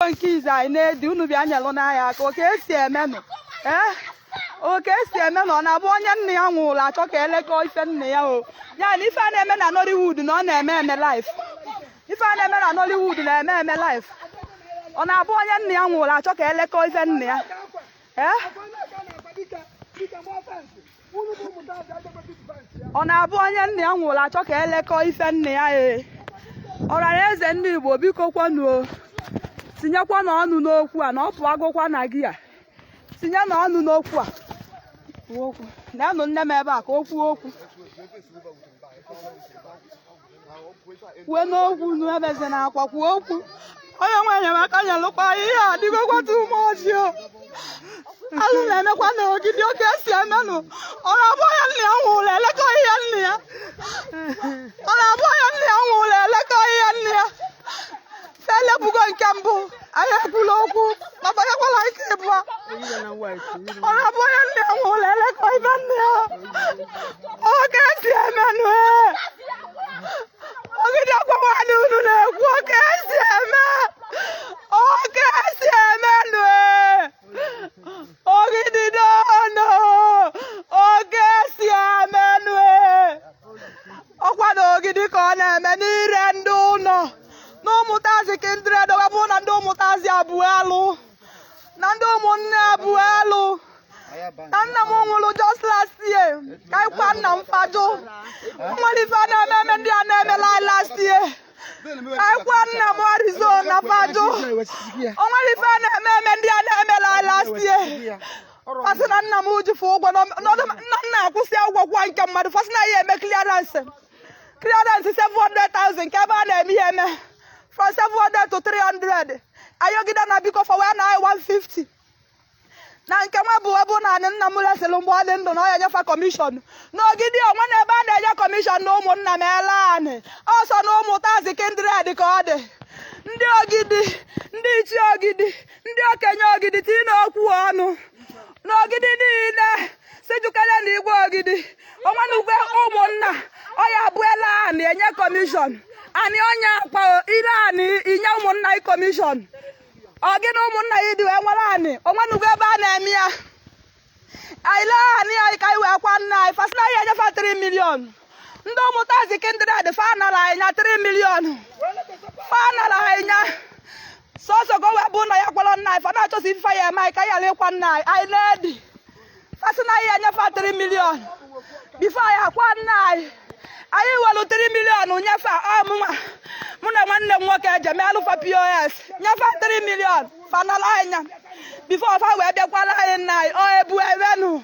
nke izi anyị na-edi unu bịa nyelụnụ anyị aka ọ ka esi emenụ ee ọ ka esi eme na ọ na-abụ onye nna ya nwụlụ achọ ka elekọ ife nna ya o ya na ife a na-eme na Nollywood na ọ na-eme eme life ife a na-eme na Nollywood na-eme eme life ọ na-abụ onye nna ya nwụlụ achọ ka elekọ ife nna ya ee ọ na-abụ onye nna ya nwụlụ achọ ka elekọ ife nna ya ee ọra na eze ndị Igbo biko kwanụ o tinyekwanụ ọnụ n'okwu a na ọ pụagokwa na gị a tinyenụ ọnụ n'okwu a neenụ nne m ebe a ka o kwuo okwu kwuenụ okwu nụ ebezina akwa kwuo okwu onye nwe enyemaka nyelụkwa ihe a dịgokwa too much o alụ na-emekwa na ogidi ọ ka esi emenụ ọ na-abụ onye nna ya nwụlụ elekọ ihe nna ya ọ na-abụ onye nna ya nwụlụ elekọ ihe nna ya elepụgo nke mbụ anyị ekwula okwu ma banyekwala nke ịbụa ọ na-abụ onye nna ya nwụlụ elekọ ife nna ya ọ ka esi emenụ ogidi akwawa na unu na-ekwu ọ ka esi eme ọ ka esi emenụ ogidi doonụ ọ ka esi emenụ ọ kwa na ogidi ka ọ na-eme n'Ire ndị ụnọ na ụmụtazi kindred wee bụrụ na ndị ụmụtazi abụọ alụ na ndị ụmụnne abụọ alụ na nna m nwụrụ just last year ka anyị kwa nna m fa jụ nwere ife a na-eme eme ndị a na-emela anyị last year ka anyị kwa nna m arizona fa jụ o nwere ife a na-eme eme ndị a na-emela anyị last year fa sị na nna m ji fa ụgwọ na ọdụ- na nna akwụsị ụgwọ kwụọ nke mmadụ fa sị na ya eme clearance 300 700,000 nke ebe a na-eme ihe eme from 700 to 300 ayọgide na biko fa wee na 150 na nke nwa bụ ebe na anị nna m lesịrị mgbe ọ dị ndụ na ọ ya enye fa commission n'ogidi o nwena ebe a na-enye commission na ụmụnna m ele anị ọ sọ na ụmụtazi kindred ka ọ dị ndị ogidi ndị ichie ogidi ndị okenye ogidi tiinụ okwu ọnụ n'ogidi niile sijukere na igwe ogidi o nwenugo ebe ụmụnna ọ ya-abụ ele anị enye commission anị onye akpa ire anị i nye ụmụnna ị commission ọ gị na ụmụnna ị dị wee nwere anị o nwenugo ebe a na-eme ya anyị lee anị anyị ka anyị wee kwa nna anyị fa sị na ya enye fa 3 million ndị ụmụtazi kindred fa nara anyị nya 3 million fa nara anyị nya sọsọ ka o wee bụ na anyị kwara nna anyị fa na-achọsi ife ya eme anyị ka anyị ghara ịkwa nna anyị anyị na-edi fa sị na anyị ya-enye fa 3 million before anyị akwa nna anyị anyị welu 3 million nye fa ọ mụnwa mụ na nwanne m nwoke eje meelụ fa POS nye fa 3 million fa nala anyị nya before fa wee bịa kwara anyị nna anyị ọ ebu ewenu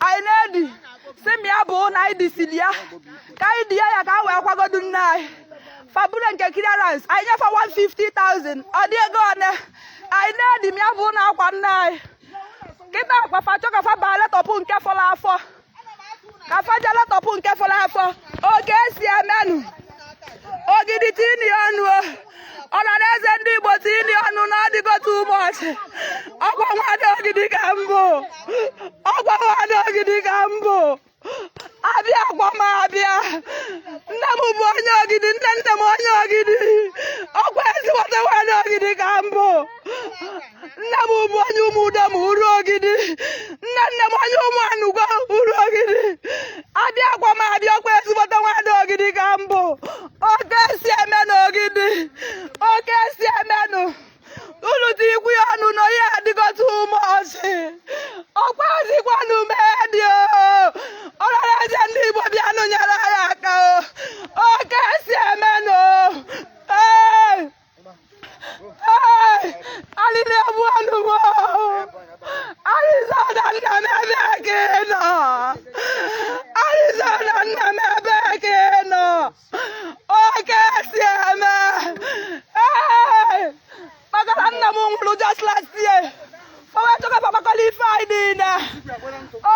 anyị na-edi sị m ya bụ na anyị disiri ya ka anyị di ya ya ka a wee kwagodu nna anyị fa buru nke clearance anyị nye fa 150,000 ọ dị ego one anyị na-edi m ya bụ na akwa nna anyị kịta akwa fa chọ ka fa bịa letọpụ nke fọrọ afọ ka fa je letọpụ nke fọrọ afọ oke esi emenụ ogidi tini ọnụ o ọra na eze ndị igbo tini ọnụ na ọdịgote ụbọchị ọkwa nwada ogidi ka m bụ ọkwa nwada ogidi ka m bụ abịakwa m abịa nne m bụ onye ogidi nne nne m onye ogidi ọkwa ezigbote nwada ogidi ka m bụ nne m bụ onye ụmụdoma uru ogidi nne nne m onye ụmụanugwo uru ogidi abịakwa m abịa ọkwa ezigbote nwada ogidi ka m bụ oke esi eme na ogidi oke esi emenụ unu tinikwuo ya ọnụ na onye adịgọta ume ọchị ọkwazikwanụ mee dị ọra na eze ndị igbo bịanụ nyere anyị aka o oke esi emenụ alịlị egbuenụ m o arizona nna m ebe ka ị nọ arizona nna m ebe ka ị nọ oke esi eme Hey! maka na nna m nwụrụ just last year fa wee chọ ka fa kpakọlụ ife anyị niile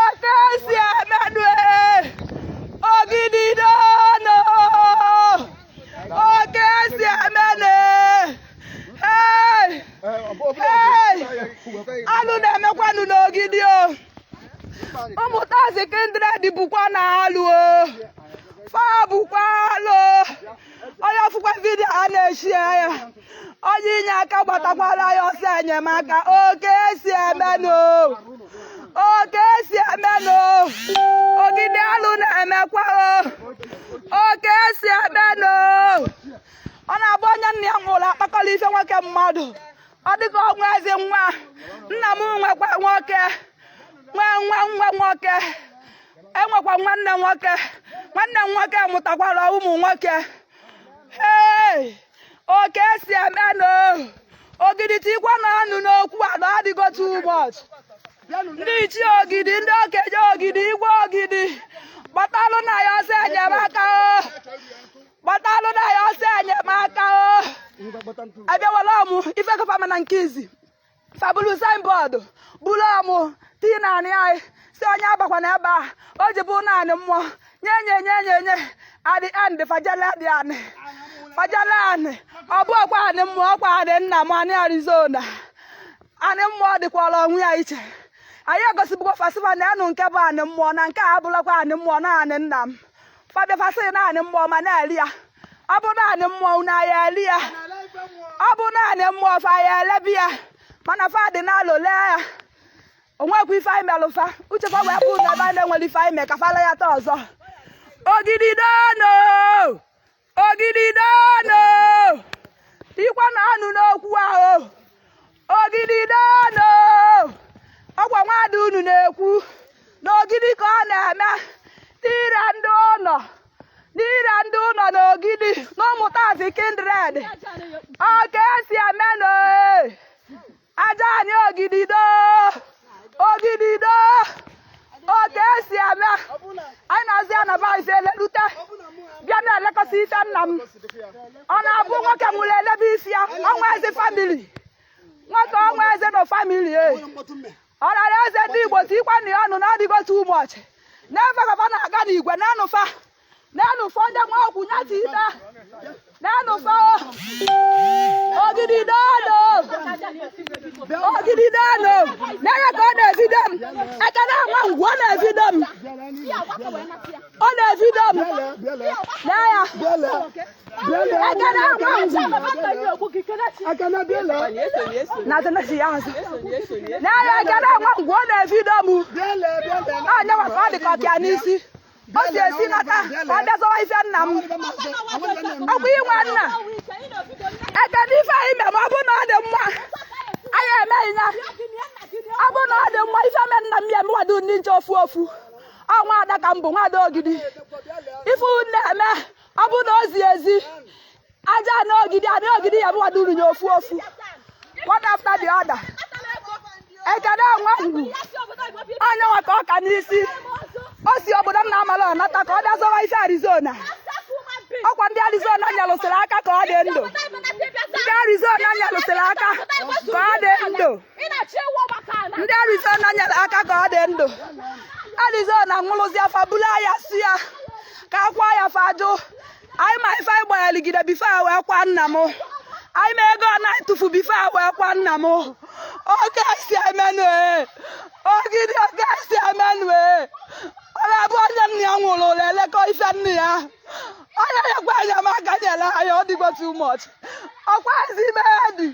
oke esi emenụ e ogidi oke esi emenụ e alụ na-emekwanụ n'ogidi o ụmụtazi kindred bụkwa na alụ o fa bụkwa alụ onye fụkwa video a na-eshare ya onye inye aka gbatakwara anyị ọsọ enyemaka oke esi emenụ oke esi emenụ ogidi alụ na-emekwa oke esi emenụ ọ na-abụ onye nna ya nwụrụ a kpakọrọ ife nwoke mmadụ ọ dịka o nwezị nwa nna m nwekwa nwoke nwee nwa nwa nwoke enwekwa nwanne nwoke nwanne m nwoke mụtakwara ụmụ nwoke ee ọ ka esi eme na ogidi tikwanụ ọnụ n'okwu a na ọ dịgo too much ndị ichie ogidi ndị okenye ogidi igwe ogidi gbatalụ na ya ọsọ enyemaka o gbatalụ na ya ọsọ enyemaka o abịawala ọmụ ife kọ fa ma na nke izi fa bulu signboard bulu ọmụ tii na anị anyị sị onye abakwana ebe a o ji bụ na anị mmụọ nye nye nye nye nye adị andị fajala dị anị fajala anị ọ bụ ọkwa anị mmụọ ọkwa anị nna m anị arizona anị mmụọ dịkwara onwe ya iche anyị egosibụkwa fa sị fa neenụ nke bụ anị mmụọ na nke a abụlakwa anị mmụọ na anị nna m fa bịa fa sị na anị mmụọ ma na-ele ya ọ bụ na anị mmụọ na ya ele ya ọ bụ na anị mmụọ fa ya elebe ya mana fa dị n'alụ lee ya o nwekwa ife anyị melụ fa uche fa wee bụ na ebe a na enwerọ ife anyị mee ka fa laa ya taa ọzọ ogidi doonụ ogidi doonụ tikwanụ ọnụ n'okwu ahụ ogidi doonụ ọkwa nwada unu na-ekwu na ogidi ka ọ na-eme n'ire ndị ụnọ n'ire ndị ụnọ na ogidi na ụmụtazi kindred ọ ka esi eme na aja anị ogidi doo ogidi doo ọ ka esi eme anyị na-azụ ya na buyers elelute bịa na-elekọsị ife nna m ọ na-abụ nwoke nwụrụ elebe isi ya ọnwa eze famili nwoke ọnwa eze na famili e ọ rara eze ndị igbo tikwanụ ya ọnụ na ọ dịgo too much n'ebe gaba na-aga n'igwe na-anụfa n'enu fọ ndị nwa ọgwụ ya ti ita n'enu fọ ogidi doonụ ogidi doonụ n'anya ka ọ na-ebido m ekene nwa ngwu ọ na-ebido m ọ na-ebido m n'anya ekene nwa ngwu na tenesi ya azụ n'anya ekene nwa ngwu ọ na-ebido m ọ nyewa ka ọ dị ka ọpịa n'isi o si ezi nata ọ bịa zọwa ife nna m ọkwa i nwe nna ekene ife anyị mere ma ọ bụ na ọ dị mma anyị emeghị ya ọ bụ na ọ dị mma ife me nna m ya emewado ndị nche ofu ofu ọ nwada ka m bụ nwada ogidi ife unu na-eme ọ bụ na o zi ezi aja anị ogidi anị ogidi ya emewado unu nye ofu ofu one after the other ekene nwa ngwu onye nwa ka ọ ka n'isi o si obodo m na-amarọ nata ka ọ bịa zọwa ife arizona ọkwa ndị arizona nyalụsịrị aka ka ọ dị ndụ ndị arizona nyalụsịrị aka ka ọ dị ndụ ndị arizona nyere aka ka ọ dị ndụ arizona nwụrụzịa fa bulu ya sị ya ka akwa ya fa jụ anyị ma ife anyị gbagharịgide bifo a wee kwa nna m anyị ma ego anyị tufu bifo a wee kwa nna m oke si emenụ ee ogidi oke si emenụ ee ọ na-abụ onye nna ya nwụrụ ọ na-elekọ ife nna ya onye nwekwa enyemaka nyere anyị ọ dịgo too much ọkwa ezi ime ya dị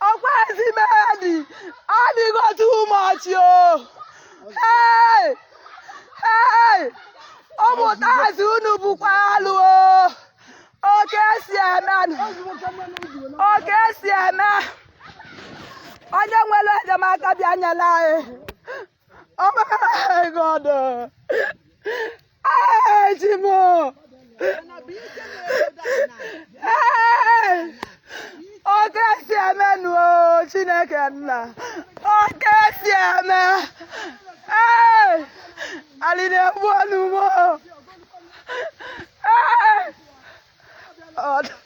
ọkwazi medi adịgo too much o hey hey ụmụtazi unu bụkwa alụ o oke esi eme nụ. oke esi eme onye nwere enyemaka bịa nyela anyị Oh my God! Hey, Chi m o! Hey! Oke si eme nu o Chineke nna. Oke si eme. Hey! Alịlị egbuo nụ m o. Hey! Ọ dị-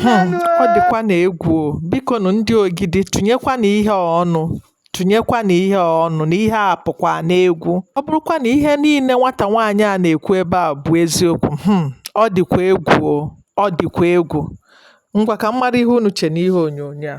Hmm, ọ dịkwanụ egwu biko nụ ndị ogidi tụnyekwanụ ihe a ọnụ tụnyekwanụ ihe a ọnụ na ihe a apụkwa n'egwu ọ bụrụkwa na ihe niile nwata nwaanyị a na-ekwu ebe a bụ eziokwu hmm, ọ dịkwa egwu ọ dịkwa egwu ngwa ka m mara ihe unu che n'ihe onyonyo a